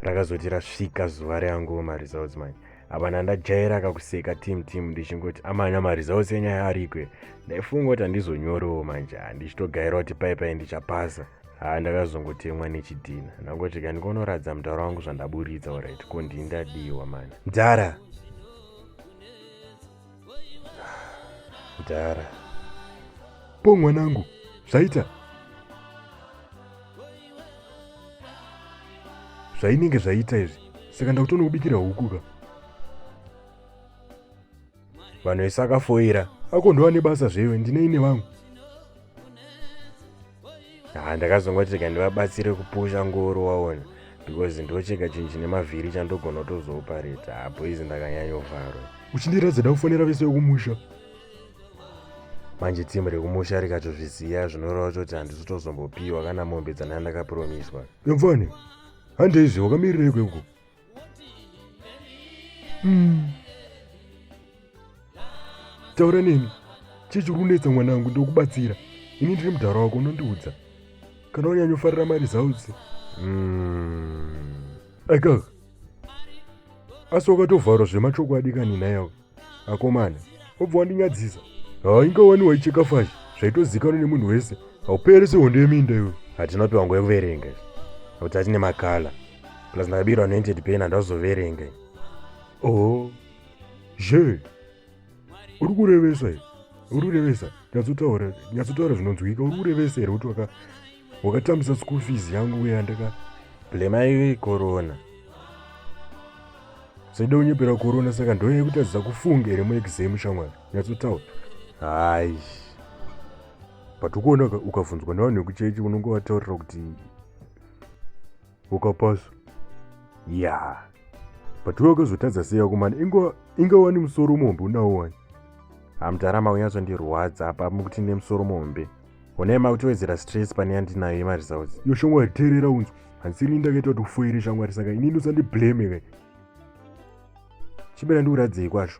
rakazoti rasvika zuva reanguwo maresults manje hapana ndajaira kakuseka team team ndichingoti amanya maresults enyaya arikwe ndaifunga kuti handizonyorewo manje handichitogaira kuti pai pai ndichapasa haa ndakazongotemwa nechidhina ndangoti ka ndikonoratidza mudhara wangu zvandaburitsa orit ko ndindadiwa mani mdhara kudhara po mwanangu zvaita zvainenge zvaita izvi saka ndakutoona kubikira huku ka vanhu vese akafoira akondova nebasa zvewe ndinei nevangu ha ndakazongoti rega ndivabatsire kupusha ngoro waona because ndochega chinhu chine mavhiri chandogona kutozoopareta hapo izi ndakanyanyovharwa uchindiratidza ndakufonera vese vekumusha manje timu rekumusha rikatozviziva zvinoreva kuti handisi tozombopiwa kana mombe dzanaa ndakapromiswa yamfani handeizve wakamirirei kwekuko mm. taura neni chii chiri kunetsa mwana wangu ndokubatsira ini ndiri mudhara wako unondiudza kana wanyanyofarira mari zaudzi mm. aika asi wakatovharwa zvemachokwadi kani nayawo akomana obva wandinyadzisa hainga wani waicheka fashi zvaitozikanwa nemunhu wese haupere sehondo yeminda iwe hatina piwa nguva yekuverenga kuti atine makala plus ndakabirwa noented pain handazoverenga oh zve uri kurevesa uri kurevesa nyatsotaura nyatsotaura zvinonzwika uri kurevesa here kuti waka wakatambisa school fees yangu uye yandaka blema iwe corona saida unyepera corona saka ndoya yekutadzisa kufunga here muexam shamwari nyatsotaura hayi but ukuona ukabvunzwa nevanhu vekuchechi unonge wataurira kuti ukapasa ya yeah. but uye wakazotadza sei yako mani inga wani musoro muhombe unawo wani hamdara maunyatso ndirwadza apa mukuti nemusoro muhombe Honai makutiwedzera stress pane yandinayo yemaresults. Yo shamwari teerera unzwa. Hanzi ini ndakaita kuti ufoire shamwari saka inini usandiblame kai. Chibera ndikuradzei kwazvo.